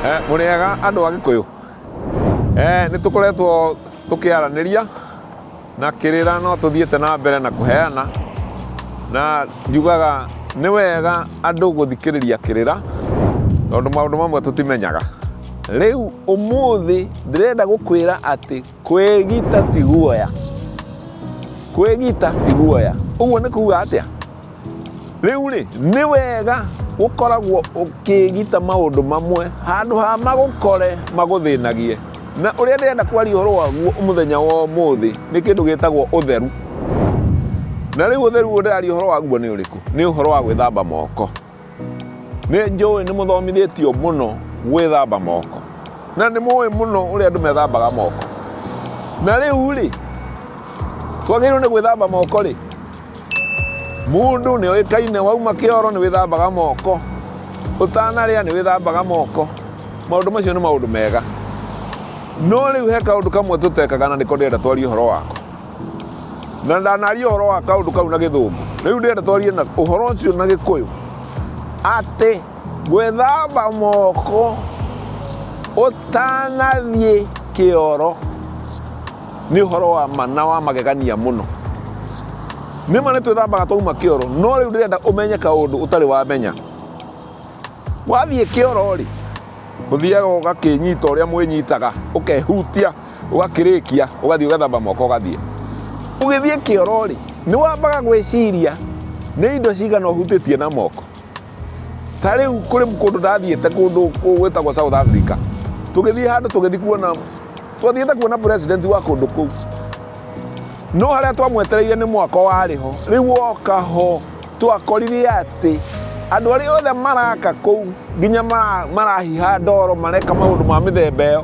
Eh, mũrĩega andũ a gĩkũyũ eh, nĩ tũkoretwo tũkĩaranĩria na kĩrĩra no tũthiĩte na mbere na kũheana na njugaga nĩ wega andũ gũthikĩrĩria kĩrĩra tondũ maũndũ mamwe tũtimenyaga rĩu ũmũthĩ ndĩrenda gũkwĩra atĩ Kwĩgita ti guoya. Kwĩgita ti guoya. Ũguo nĩ kuga atĩa? Rĩu rĩ, nĩ wega gũkoragwo ũkĩgita maũndũ mamwe handũ ha magũkore magũthĩnagie. Na ũrĩa ndĩrenda kwaria ũhoro waguo mũthenya wa ũmũthĩ nĩ kĩndũ gĩtagwo ũtheru. Na rĩu ũtheru ũrĩa ndĩraria ũhoro waguo nĩ ũrĩkũ? Nĩ ũhoro wa gwĩthamba moko. Nĩ njũĩ nĩ mũthomithĩtio mũno gwĩthamba moko na nĩ mũĩ mũno ũrĩa andũ methambaga moko. Na rĩu rĩ, twagĩrĩirwo nĩ gwĩthamba moko rĩ, mũndũ nĩ oĩkaine wauma kĩoro nĩ wĩthambaga moko, ũtanarĩa nĩ wĩthambaga moko. Maũndũ macio nĩ maũndũ mega. No rĩu he kaũndũ kamwe tũtekaga na nĩko ndĩrenda twarie ũhoro wako. na ndanaria ũhoro wa kaũndũ kau na gĩthũngũ rĩu ndĩrenda twarie na ũhoro ũcio na gĩkũyũ atĩ gwĩthamba moko ũtanathiĩ kĩoro nĩ ũhoro wa mana wa magegania mũno nĩ ma nĩ twĩthambaga twauma kĩoro no rĩu ndĩrenda ũmenye kaũndũ ũtarĩ wamenya wathiĩ kĩoro rĩ ũthiaga ũgakĩnyita ũrĩa mwĩnyitaga ũkehutia ũgakĩrĩkia ũgathiĩ ũgethamba moko ũgathiĩ ũgĩthiĩ kĩoro rĩ nĩ wambaga gwĩciria nĩ indo cigana ũhutĩtie na moko ta rĩu kũrĩ kũndũ ndathiĩte kũndũ gwĩtagwo South Africa tũgĩthiĩ handũ tũgĩthiĩ kuona twathiĩte kuona president wa kũndũ kũu no harĩa twamwetereire nĩ mwaka warĩ ho rĩu woka ho twakorire atĩ andũ arĩa othe maraka kũu nginya marahiha ndoro mareka maũndũ ma mĩthemba ĩyo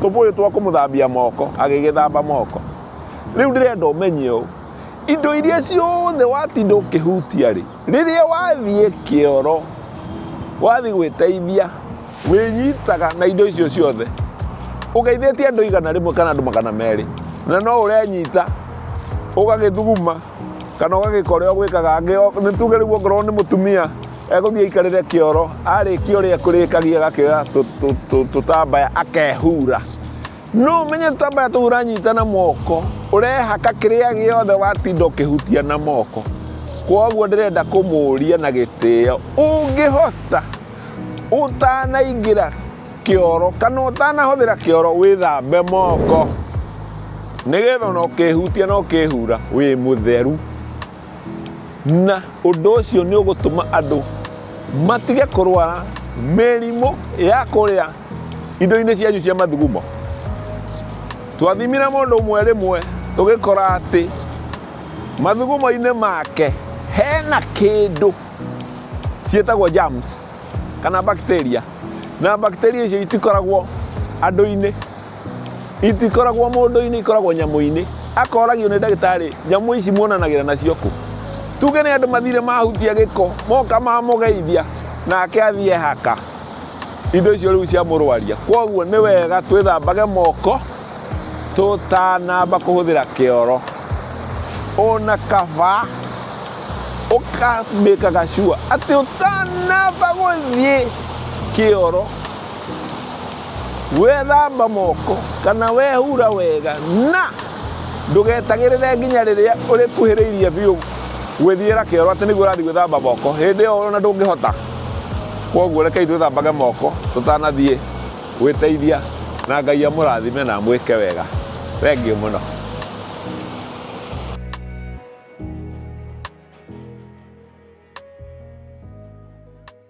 tũbũyũ twa kũmũthambia moko agĩgĩthamba moko rĩu ndĩrenda ũmenye ũũ indo iria ciothe watinda ũkĩhutia rĩ rĩrĩa wathiĩ kĩoro wathiĩ gwĩteithia wĩnyitaga na indo icio ciothe ũgeithĩtie andũ igana rĩmwe kana andũ magana merĩ na no ũrenyita ũgagĩthuguma kana ũgagĩka ũrĩa ũgwĩkaga nĩ tuge rĩu ongorwo nĩ mũtumia egũthiĩ aikarĩre kĩoro arĩkia ũrĩa kũrĩkagia agakĩoya tũtambaya akehura no ũmenye tũtambaya tũu ũranyita na moko ũrehaka kĩrĩa gĩothe watinda ũkĩhutia na moko koguo ndĩrenda kũmũria na gĩtĩo ũngĩhota ũtanaingĩra kĩoro kana ũtanahũthĩra kĩoro wĩthambe moko nĩgetha ona ũkĩhutia na ũkĩhura wĩ mũtheru na ũndũ ũcio nĩ ũgũtũma andũ matige kũrwara mĩrimũ ya kũrĩa indo-inĩ cianyu cia mathugumo twathimire mũndũ ũmwe rĩmwe tũgĩkora atĩ mathugumo-inĩ make hena kĩndũ ciĩtagwo germs kana bacteria na bacteria icio itikoragwo andũ-inĩ. itikoragwo mũndũ-inĩ ikoragwo nyamũ-inĩ akoragio nĩ ndagĩtarĩ nyamũ ici muonanagĩra nacio kũ tuge nĩ andũ mathire mahutia gĩko moka mamũgeithia nake athiĩ haka indo icio rĩu cia mũrwaria kwoguo nĩ wega twĩthambage moko tũtanamba kũhũthĩra kĩoro ona kaba ũkamĩkaga cua atĩ ũtanamba gũthiĩ kĩoro Wethamba moko kana wehura wega na ndũgetagĩrĩre nginya rĩrĩa ũrĩkuhĩrĩirie biũ gwĩthiĩra kĩoro atĩ nĩguo ũrathiĩ gwĩthamba moko hĩndĩ ĩyo ona ndũngĩhota koguo rekei twĩthambage moko tũtanathiĩ gwĩteithia na ngai amũrathime na amwĩke wega thengiũ mũno